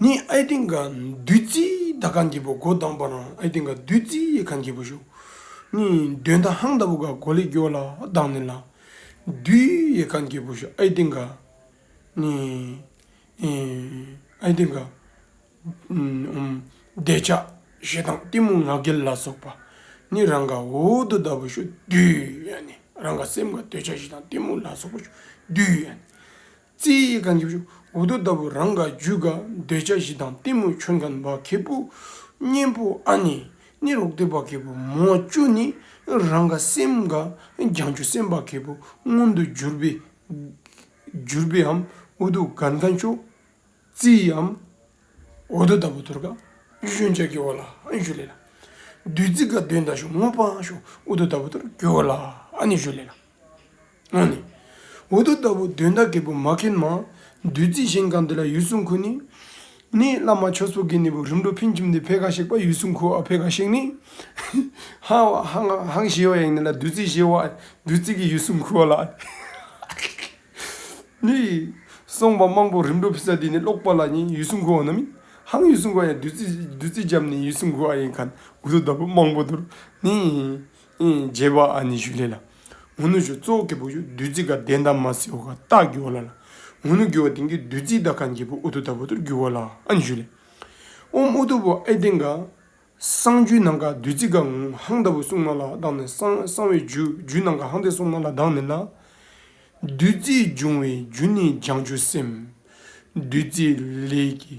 ནི་ཨའི་སྟེང་གི་བདུད་རྩི་དག་གང་གྱིས་པོ་སྒོ་བསྡམས་པ་ན་ཨའི་སྟེང་གི་བདུད་རྩི་ཡིས་གང་གྱིས་པོ་ཞུགས། ནི་འདོན་ད་ཧང་ལྟ་བུ་ག་གོ་ལི་སྒྱོ་ལ་བདག་ནི་ལ། བདུད་ཡིས་གང་གྱིས་པོ་ཞུགས་ཨའི་སྟེང་གི། ནི་ཨའི་སྟེང་གི། བདེ་བྱ་ཞེ་སྡང་གཏི་མུག་ང་རྒྱལ་ལ་སོགས་པ། ནི་རང་ག་འོ་དོ་ལྟ་བུ་ཞུགས་བདུད་ཡ་ནི་རང་ག་སེམས་ག་འདོད་བྱ་ཞེ་སྡང་གཏི་མུག་ལ་སོགས་པ་ཞུགས་བདུད་ཡ་ནི། རྩིའི་ཡི་ག་འཇུག་འོ་དོད་ལྟ་བུ་རང་ག་རྒྱུད་དགའ་འདོད་བྱ་བཞི་དང་གཏི་མུག་ཁྱོད་གང་བ་གད་པུ། གཉེན་པོ་ཨ་ནི་ནི་རོག་སྟེ་བ་གད་པུ་མོ་བཅུ་ནི་རང་ག་སེམས་དགའ་རྒྱང་ཆུ་སེམས་བ་གད་པུ་མངོན་དུ་གྱུར་པའི། གྱུར་པའི་འམ་འོ་དོད་ག་འགའ་མཆོག། རྩིའི་འམ་འོ་དོད་ལྟ་བུ་དོར་ག་གཞོན་ལྕགས་ཀྱི་བ་ལ་ཨ་ཞུ་ལེ་ལ། བདུད་རྩི་ག་འདོད་མདའ་ཞུགས་སྔོ་བ་ཞུགས་འོ་དོད་ལྟ་བུ་དོར་གྱི་བ་ལ་ཨ་ནི་ཞུ་ལེ་ལ། ནི། འོ་དོ་ལྟ་བུ་དོན་དག་གི་བུ་མ་མཁན་མ། བདུད་རྩི་ཞིང་གང་འདི་ལ་ཡུལ་སྲུང་ཁུ་ནི། ནི། བླ་མ་ཆོས་ཚོགས་ཀྱི་ནི་བུ་རིམ་གྲོ་ཕིན་ཁྱིམ་འདི་བྷེ་ག་གཤེགས་པ་ཡུལ་སྲུང་ཁུ་ཨ་བྷེ་ག་གཤེགས་ནི། ཧཱུྃ་ཞེས་བ་ཡང་ནི་ལ་བདུད་རྩི་ཞེས་བ། བདུད་རྩི་གི་ཡུལ་སྲུང་ཁུ་བ་ལ། ནི། གསུངས་པ་དམངས་པོ་རིམ་གྲོ་ཕིན་ས་འདི་ནི་ཀློག་པ་ལ་ནི་ཡུལ་སྲུང་ཁུ་བ་ནི། ཧཱུྃ་ཡུལ་སྲུང་ཁུ་བ་ཡང་བདུད་རྩི་བདུད་རྩི་འཇམ་ནི་ཡུལ་སྲུང་ཁུ་ཨ་ཡིན་ག་ནི། འོ་དོ་ལྟ་བུ་དམངས་པོ་དུར་ནི། རྒྱལ་བ་ཨ་ནི་ཞུ་ལེ་ལ། ངུ་ནུ་ཞུ་གཙོ་བོ་གེ་པོ་ཞུ་བདུད་རྩི་དགའ་ལྡན་དང་མ་སེའུ་ཁ་སྟག་རྒྱུ་བ་ལ་ལ། ངུ་ནུ་རྒྱུ་བ་དེང་གི་བདུད་རྩི་དག་གང་རྒྱལ་པོ་ཨུ་དུ་ད་བུ་དུར་རྒྱུ་བ་ལ་ཨ་ནི་ཞུ་ལེ། ཨོམ་ཨུ་དུ་བུ་ཨེ་དེང་ག། སང་རྒྱུའི་ནང་ག་བདུད་རྩི་དགའ་ངུ་ཧང་ད་བུ་སྲུང་མ་ལ་ལྡང་ནི་སང་སང་བའི་རྒྱུ་རྒྱུའི་ནང་ག་ཧང་དེ་སྲུང་མ་ལ་ལྡང་ནི་ལ། བདུད་རྩི་འབྱུང་བའི་རྒྱུ་ནི་ལྗང་ཆུ་སེམས། བདུད་རྩི་ལས་ཀྱི།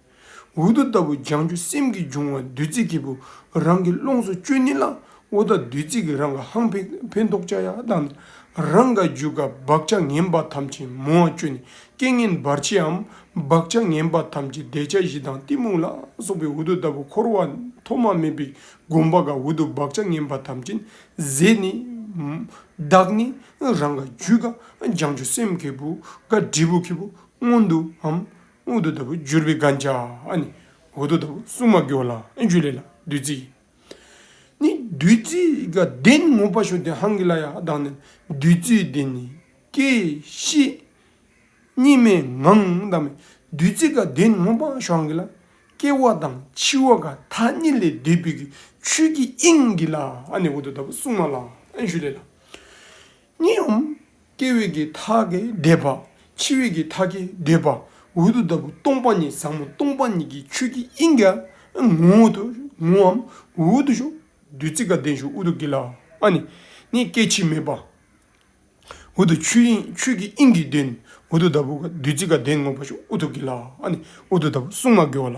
འོ་རྡོ་ལྟ་བུ་ལྗང་གུ་སེམས་ཀྱི་འབྱུང་བ་བདུད་རྩི་སྐྱེས་བུ་རང་གི་ཀློང་སུ་སྤྱོད་ནི་ལ་འོ་ད་བདུད་རྩི་གི་རང་ག་ཧང་ཕན་འདོགས་བྱ་ཡ་དང་རང་ག་རྒྱུ་ག་བག་ཆགས་ངན་པ་ཐམས་ཅད་མོ་བ་སྤྱོད་ནི་སྐད་ངན་འབར་བྱེའམ་བག་ཆགས་ངན་པ་ཐམས་ཅད་བཟླས་བྱ་བཞི་དང་གཏི་མུག་ལ་སོགས་པའི་འོ་རྡོ་ལྟ་བུ་འཁོར་བ་ཐོག་མ་མེད་པའི་སྒོམ་པ་ག་འོ་རྡོ་བག་ཆགས་ངན་པ་ཐམས་ཅད་ཟད་ནི། བདག་ནི་རང་ག་རྒྱུ་ག་ལྗང་གུ་སེམས་སྐྱེས་བུ་ག་འབྲས་བུ་ཁྱི་བུ་སྔོན་དུའམ་སྔོན་དུ་ལྟ་བུ་བསྒྱུར་བའི་བཀའ་འཆ་ནི། འོག་ཏུ་ལྟ་བུ་སྲུང་མ་སྐྱོང་ལ་འཇུ་ལེ་ལ་བདུད་རྩི། ནི། བདུད་རྩི་དགའ་ལྡན་ངོ་བ་ཞུ་དེ་ཧང་གི་ལ་ཡ་བདག་ནི་བདུད་རྩི་འདི་ནི་སྐྱེ་ཤི། གཉིས་མེད་ངང་བདག་མེད་བདུད་རྩི་དགའ་ལྡན་ངོ་བ་ཞུ་ཧང་གི་ལ། སྐྱེ་བ་དང་འཆི་བ་ག་ད་ནི་ལས་འདས་བུ་གི་ཆོས་ཀྱི་དབྱིངས་ཀྱི་ལ་ནི་འོག་ཏུ་ལྟ་བུ་སྲུང་མ་ལ་འཇུ་ལེ་ལ། གཉིས་འམ། སྐྱེ་བས་ཀྱི་མཐའ་ཀྱི་འདས་པ། འཆི་བས་ཀྱི་མཐའ་ཀྱི་འདས་པ། འོད་དུ་ལྟ་བུ་སྟོང་པ་ཉིད་བཟང་མོ་སྟོང་པ་ཉིད་ཀྱི་ཆོས་ཀྱི་དབྱིངས་ཀྱི་ངོ་བོ་དུ་ངོ་འམ་འོད་དུ་ཞུ། བདུད་རྩི་དགའ་ལྡན་ཞུ་ཨུ་དུ་ཀི་ལ། ཨ་ནི། ནི་སྐྱེ་འཆི་མེད་པ། འོད་དུ་ཆོས་དབྱིངས་ཆོས་ཀྱི་དབྱིངས་ཀྱི་བདུན། འོད་དུ་ལྟ་བུ་བདུད་རྩི་དགའ་ལྡན་ངོ་བོ་ཞུ་ཨུ་དུ་ཀི་ལ། ཨ་ནི། འོད་དུ་ལྟ་བུ་གསུང་མ་དགེ་བ་ལ།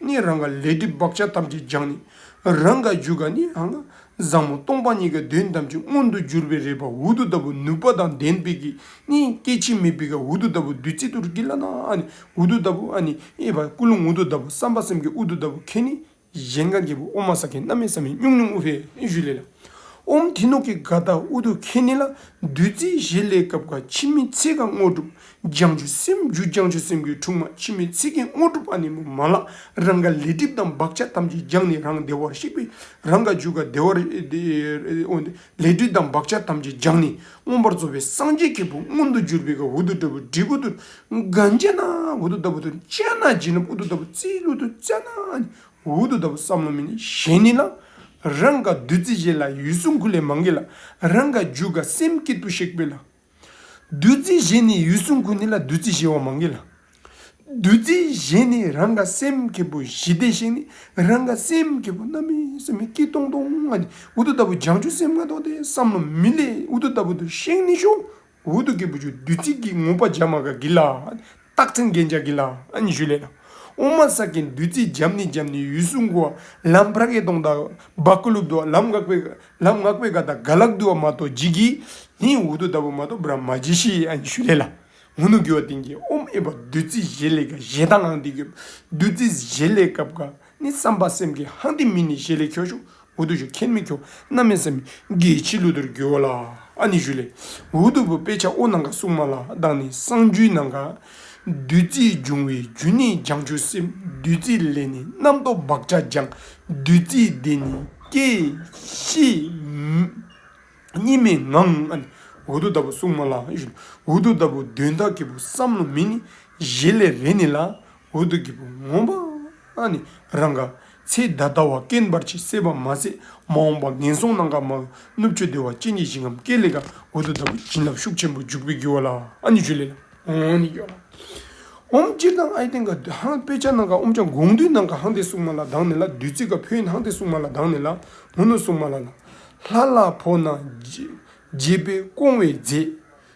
ནི་རང་ག་ལས་སྒྲིབ་བག་ཆགས་ཐམས་ཅད་སྦྱངས་ནས་རང་ག་རྒྱུད་ག་ནི་རང་ག། བཟང་མོ་སྟོང་པ་ཉིད་ཀྱི་དོན་ཐམས་ཅད་མངོན་དུ་གྱུར་པའི་རེ་བ་འུ་ཐུག་ལྟ་བུ་ནུས་པ་དང་ལྡན་པས་ཀྱི་ནི་སྐྱེ་འཆི་མེད་པས་ཀྱི་འུ་ཐུག་ལྟ་བུ་བདུད་རྩི་དུར་གྱི་བླ་ན་ཨ་ནི་འུ་ཐུག་ལྟ་བུ་ཨ་ནི་གཡས་པ་ཀུན་སློང་འུ་ཐུག་ལྟ་བུ་བསམ་པ་སེམས་ཀྱི་འུ་ཐུག་ལྟ་བུ་ཁྱེད་ནི་གཞན་ག་འགྱེད་པོ་ཨོ་མ་ས་ཀའི་སྣ་མའི་ས་མི་སྙུག་སྙུག་ཨུ་བྷའི་ཤུ་ལེ་ལ། ཨོམ་དྷི་ནུ་ཀི་ག་དྷཱུ་ཏུ་ཁྱེད་ནི་ལ་བདུད་རྩིའི་བཞེས་ལས་སྐབས་ག་འཆི་མེད་ཚེ་ག་དངོས་གྲུབ་སྦྱང་ཆུ་སེམས་རྒྱུད་སྦྱང་ཆུ་སེམས་རྒྱུད་འཁྲུགས་མ་མཆིས་མེད་ཚིག་གིས་དངོས་གྲུབ་ཨ་ནི་མོ་མ་ལགས་རང་ག་ལས་སྒྲིབ་དང་བག་ཆགས་ཐམས་ཅད་སྦྱངས་ནས་རང་བདེ་བར་གཤེགས་པས་རང་ག་རྒྱུད་ག་བདེ་བར་ལས་སྒྲིབ་དང་བག་ཆགས་ཐམས་ཅད་སྦྱངས་ནས་མངོན་པར་རྫོགས་པའི་སངས་རྒྱས་ཀྱི་བུ་མངོན་དུ་གྱུར་པའི་ག་འུ་དུ་ཏྲ་བུ་དྲིལ་བུ་དུ་ག་འཇལ་ན་འུ་དུ་ཏྲ་བུ་དུ་བཅད་ན་བྱིན་རླབས་འུ་དུ་ཏྲ་བུ་རྩིས་ལུས་དུ་བཙལ་ན་ཨ་ནི་མོ་འུ་དུ་ཏྲ་བུ་བསམ་བློ་མི་ནི་གཞན་ནི་ལ། རང་ག་བདུད་རྩི་བཞེས་ལ་ཡུལ་སྲུང་ཁུ་ལས་མ་འགེལ་ལ། རང་ག་རྒྱུད་ག་སེམས་བསྐྱེད་དུ་གཤེགས་པས་ལ། བདུད་རྩི་གཞན་ནི་ཡུལ་སྲུང་ཀུན་ནི་ལ་བདུད་རྩི་བཞི་བ་མང་གི་ལ། བདུད་རྩི་གཞན་ནི་རང་ག་སེམས་ཀྱི་བུ་བཞི་སྟེ་ཤིང་ནི་རང་ག་སེམས་ཀྱི་བུ་རྣམ་སྨིན་སེམས་ཀྱི་སྟོང་སྟོང་ལྔ་སྟེ་འུ་ཐུག་ལྟ་བུ་སྦྱང་ཆུ་སེམས་ལྔ་སྟོང་སྟེ་བསམ་མནོ་མི་ལས་འུ་ཐུག་ལྟ་བུ་དུ་ཤིང་ནི་ཤོག་འུ་ཐུག་གི་བུ་ཆུ་བདུད་རྩི་གིས་ངོམས་པ་བྱ་མ་ག་གི་ལ། རྟགས་མཚན་རྒྱན་ཆ་གི་ལ་ཨན་ཞུ་ལེ་ན། ཨོ་མ་ས་ཀའི་བདུད་རྩིས་འཇམ་ནི་འཇམ་ནི་ཡུལ་སྲུང་གོ། ལམ་བྷ་གའི་སྟོང་དང་བ་ཀུ་ལུབ་དོ། ལམ་སྔགས་པའི་ལམ་སྔགས་པའི་ག་དང་ག་ལག་དུ་བ་མ་ཏོ་ཇི་གི། ནི་འུ་དུ་ད་བུ་མ་ཏོ་བྷ་ར་མ་ཇི་ཤི་ཡི་ཨན་ཞུ་ལེ་ལ། ངུ་ནུ་གུ་བ་ཏིང་གི་ཨོམ་ཨེ་བ་བདུད་རྩིས་བཞེས་ལེ་ག་བཞེས་ད་ངང་ཏི་གུ་བདུད་རྩིས་བཞེས་ལེ་སྐབས་ག། ནི་བསམ་པ་སེམས་ཀྱི་ཧ་འདི་མི་ནི་ཞེས་ལས་ཁྱོ་ཤུག་འུ་དུ་ཞུ་ཁྱེར་མི་ཁྱོ་ན་མི་སེམས་དགེ་ཕྱི་བློ་དུར་རྒྱུ་བ་ལ་ཨ་ནི་ཞུ་ལས་འུ་དུ་བུ་དཔེ་ཆ་ཨོ་ནང་ག་སྲུང་མ་ལ་བདག་ནི་གསང་རྒྱུད་ནང་ག་བདུད་རྩི་འབྱུང་བའི་རྒྱུ་ནི་སྦྱང་ཆུ་སེམས་བདུད་རྩི་ལས་ནི་རྣམ་རྟོག་བག་ཆགས་སྦྱང་བདུད་རྩི་དེ་ནི་སྐྱེ་ཤི་གཉིས་མེད་ངང་ཨ་ནི་འུ་དུ་ལྟ་བུ་སྲུང་མ་ལ་ཞུ་ལས་འུ་དུ་ལྟ་བུ་དོན་དག་གི་བུ་བསམ་བློ་མི་ནི་ཞེས་ལས་རེ་ནི་ལ་འོད་དུ་འགྱེད་པོ་ངོམས་པ་ནི་རང་ག། ཚེ་བདག་ལྟ་བ་སྐེམས་པར་བྱེད་སྲེད་པ་མ་ཟད་མ་འོངས་པ་ངན་སོང་ནང་ག་མ། གནུབས་སྤྱོད་བདེ་བ་ཅན་གྱི་ཞིང་ངམ་སྐས་ལས་ག་འོད་དུ་ལྟ་བུ་བྱིན་རླབས་ཤུགས་ཆེན་པོ་འཇུག་པའི་རྒྱུ་བ་ལ་ཨ་ནི་ཆུ་ལས། འོམ་ནི་ཡོ་ལ། འོམ་སྤྱིར་དང་ཨའི་སྟེང་ག་བདུད་ཧང་དཔེ་ཆ་ནང་ག་འོམ་ཀྱང་དགོངས་འདུས་ནང་ག་ཧང་སྟེ་སྲུང་མ་ལ་གདངས་ནས་ལ་བདུད་རྩི་ག་ཕོ་ཡིན་ཧང་སྟེ་སྲུང་མ་ལ་གདངས་ནས་ལ་ངོ་ནུ་སྲུང་མ་ལ་ལ། ལྷ་ལ་ཕོ་ན། རྒྱས་པའི་སྐོང་བའི་རྫས།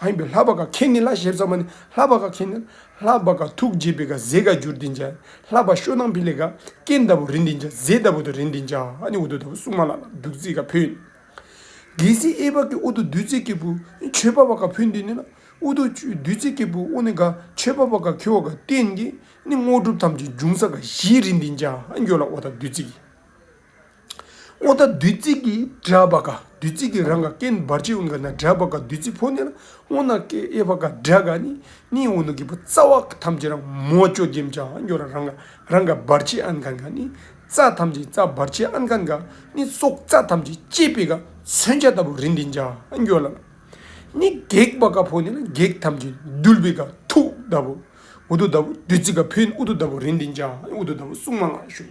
ལྷ་ཡིན་པས་ལྷ་བ་ག་ཁྱེད་ནི་ལྷ་ཞེས་བྱ་བ་ནི་ལྷ་བ་ག་ཁྱེད་ནི་ལྷ་བ་ག་ཐུགས་རྗེས་པའི་ག་ཟེ་ག་འགྱུར་འདི་འཇའ་ལྷ་བ་ཤོ་ནང་འཕེལ་ལས་ག་སྐྱེས་ཟླ་བོ་རི་འདི་འཇའ་ཟེ་ཟླ་བོ་དང་རི་འདི་འཇའ་ཨ་ནི་འུ་ཐུག་ཟླ་བོ་སྲུང་མ་ལ་ལ་བདུད་རྩི་ག་ཕུལ། རྒྱལ་སྲིད་ཨེ་བག་གི་དབུ་ཐུག་བདུད་རྩི་སྐྱེས་བུ་ཆོས་པ་བ་ག་ཕུལ་འདི་ནི་ལ་དབུ་ཐུག་བདུད་རྩི་སྐྱེས་བུ་དབུ་ནི་ག་ཆོས་པ་བ་ག་ཁྱོད་བ་ག་བསྟེན་གྱིས་ནི་དངོས་གྲུབ་ཐམས་ཅད་འབྱུང་ས་ག་བཞིའི་རི་འདི་འཇའ་ཨ་འགྱོ་ལ་དབུ་དང་བདུད་རྩི་གི། ཨོ་ད་བདུད་རྩི་གི་དྲྭ་བ་ཀ་བདུད་རྩི་གི་རང་ག་ཀན་སྦར་བྱེད་ཨུན་ག་ན་དྲྭ་བ་ཀ་བདུད་རྩི་ཕོ་ནེ་ལ་ཨོ་ན་ཀེ་ཨེ་བ་ཀ་དྲྭ་ག་ནི་ནི་ཨུ་ནུ་གི་བུ་རྩ་བ་ཀ་ཐམས་ཅད་རང་མོ་ཅོ་རྒྱན་བྱ་བ་འགྱུར་རང་ག་རང་ག་སྦར་བྱེད་ཨན་གན་ག་ནི་རྩ་ཐམས་ཅད་རྩ་སྦར་བྱེད་ཨན་གན་ག་ནི་སྲོག་རྩ་ཐམས་ཅད་བསྐྱེད་པའི་ཀ་མཚོན་ཆ་ལྟ་བུ་རིན་འདིན་བྱ་བ་འགྱུར་ལ་ནི་བགེགས་བ་ཀ་ཕོ་ནེ་ལ་བགེགས་ཐམས་ཅད་འདུལ་བའི་ཀ་ཐུགས་ལྟ་བུ་ཨུ་དུ་ལྟ་བུ་བདུད་རྩི་ཀ་ཕོའི་ཨུ་དུ་ལྟ་བུ་རིན་འདིན་བྱ་བ་ཨུ་དུ་ལྟ་བུ་སྲུང་མ་ལྔ་བྱུང།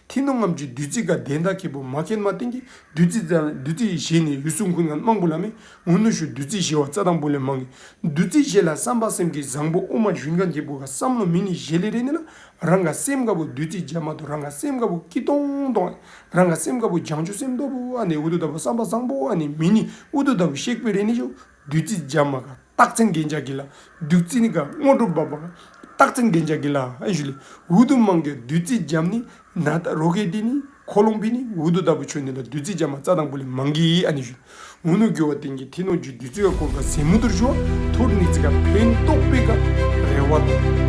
མཐིང་ནག་རྔམས་ཀྱི་བདུད་རྩི་དགའ་ལྡན་དག་གི་བུ་མ་ཀེ་མ་ཏིང་གི་བདུད་རྩི་བཙལ། བདུད་རྩི་བཞེས་ནས་ཡུལ་སྲུང་ཀུན་ལ་རྨང་བུ་ལ་མེ་དངུལ་ནུ་ཞོ་བདུད་རྩི་བཞེས་བ་རྩ་དང་པོ་ལས་མང་གི། བདུད་རྩི་བཞེས་ལ་བསམ་པ་སེམས་ཀྱི་བཟང་པོ་དབུ་མ་བཞུན་གང་གི་བུ་ག་བསམ་བློ་མི་ནི་བཞེས་ལེ་རེ་ནི་ལ་རང་ག་སེམས་དགའ་བོ་བདུད་རྩི་བརྒྱ་མ་དོ་རང་ག་སེམས་དགའ་བོ་སྐྱིད་སྟོང་སྟོང་ཨེ་རང་ག་སེམས་དགའ་བོ་བྱང་ཆུབ་སེམས་སྟོབས་བོ་ཨ་ནི་འུ་ཏུ་ལྟ་བུ་བསམ་པ་བཟང་པོ་ཨ་ནི་མི་ནི་འུ་ཏུ་ལྟ་བུ་གཤེགས་པའི་རེ་ནི་ཤོ་བདུད་རྩི་སྦྱར་མ་ག་སྟག་ཚན་རྒན་ལྕགས་ཀྱི་ལ། བདུད་རྩི་ནི་ག་སྔོ་དྲོ་འབབ་པ་ག་སྟག་ཚན་རྒན་ལྕགས་ཀྱི་ལ། འུ་དུམ་མང་གི་བདུད་རྩི་སྦྱར་ནི་ན་ད་རོ་གའི་ཏི་ནི་ཁོ་ལོང་པི་ནི་འུ་དུ་ད་པུ་ཆོས་ནི་ལ་བདུད་རྩི་སྦྱར་མ་རྩ་དང་པོ་ལས་མང་གི། འུ་ནུ་གུ་བ་སྟེང་གི་ཐི་ནོ་རྒྱུའི་བདུད་རྩི་ག་བསྐོལ་ག་ཟན་མུ་དུར་ཞུ་བ་ཐུར་ནི་རྩི་ག་བོན་ཏོག་དཔེ་ག་རལ་བ་དང།